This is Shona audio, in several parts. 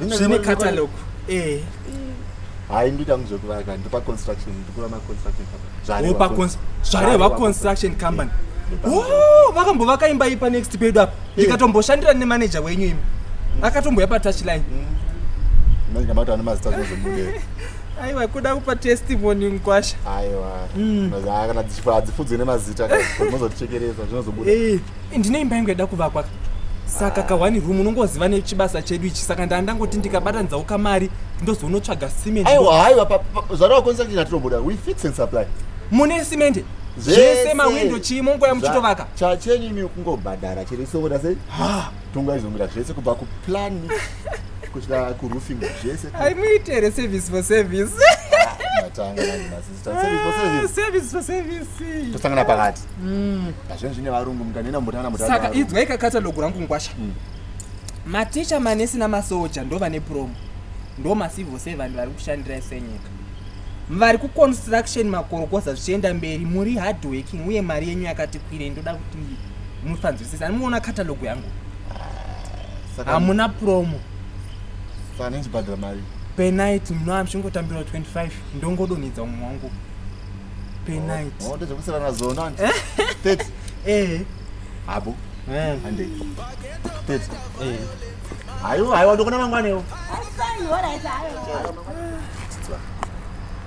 zvine catalog eh hayi ndoita muzvekuvaka ndopa construction ndikuva maconstruction zvarepa zvareva construction company oh, vakambovaka imba ipa next pedu apa ndikatomboshandira nemanager wenyu imi akatomboya patouchline ndamati mm. ane mazita zvozomude aiwa kuda kupa testimony mkwasha aiwa mm. kana dzichifa hadzifudzwe nemazita mozotichekeresa zvinozobuda eh. ndine imba yangu yada kuvakwa saka kawani room unongoziva nechibasa chedu ichi saka ndaa ndangoti ndikabatanidza ukamari ndozonotsvaga cement aiwa haiwa zvarowa konisa ndina tinobuda we fix and supply mune cement zvese mawindo chii mongoya muchitovaka chachenyu imi kungobhadhara chero isongota sei tongaizomira zvese kubva kuplan kusvika kuroofing zvese aimuitere service for service ah, tosangana pakati mm. pazvinhu zvine varungu mukanena mutana mutasaka idzwai kakatalogu rangu ngwasha mm. maticha manesi namasoja ndo vane promo ndo macivil servant vari kushandira senyika vari kuconstruction makorokoza zvichienda mberi muri hard working uye mari yenyu yakati kwirei ndoda kuti mufanzwisisa anomuona katalogu yangu hamuna promo penight munoamshingotambirwa 25 ndongodonhedza umwe wangu penight oh, ndozvekusirana zona tet eh habo eh. ande tet eh hayo hayo ndokona mangwanewo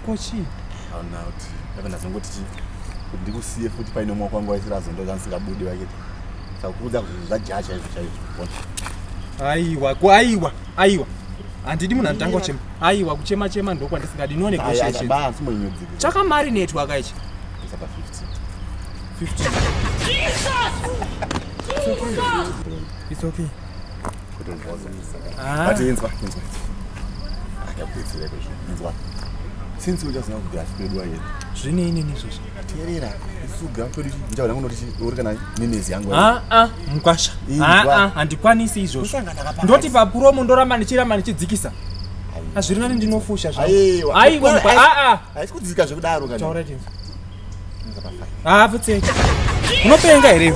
kochi hauna kuti ave ndazongoti chi kuti ndikusiye futi paine mwa kwangu waisirazo ndo zvandisingabude vaketi sakuudza kuti zvajaha chaizvo chaizvo aiwa aiwa aiwa handidi munhu anotanga uchema aiwa kuchema chema ndokwandisingadi no negotiationchakamarinetwa kaichi It's okay. Ah. But inzwa, inzwa. Akabetsera kuzvinzwa. Since uchaziva kuti asi pedu ayeni. Zvine inini izvozvo. Terera kusuga kwedu ndichaona kuno uri kana nenezi yangu. Ah ah mkwasha. Ah ah handikwanisi izvozvo. Ndoti pa promo ndoramba ndichiramba ndichidzikisa. Hazviri nani ndinofusha zvangu. Aiwa. Aiwa mkwa ah ah. Haisi kudzika zvekudaro kana. Taura chete. Ah futseki. Unopenga here?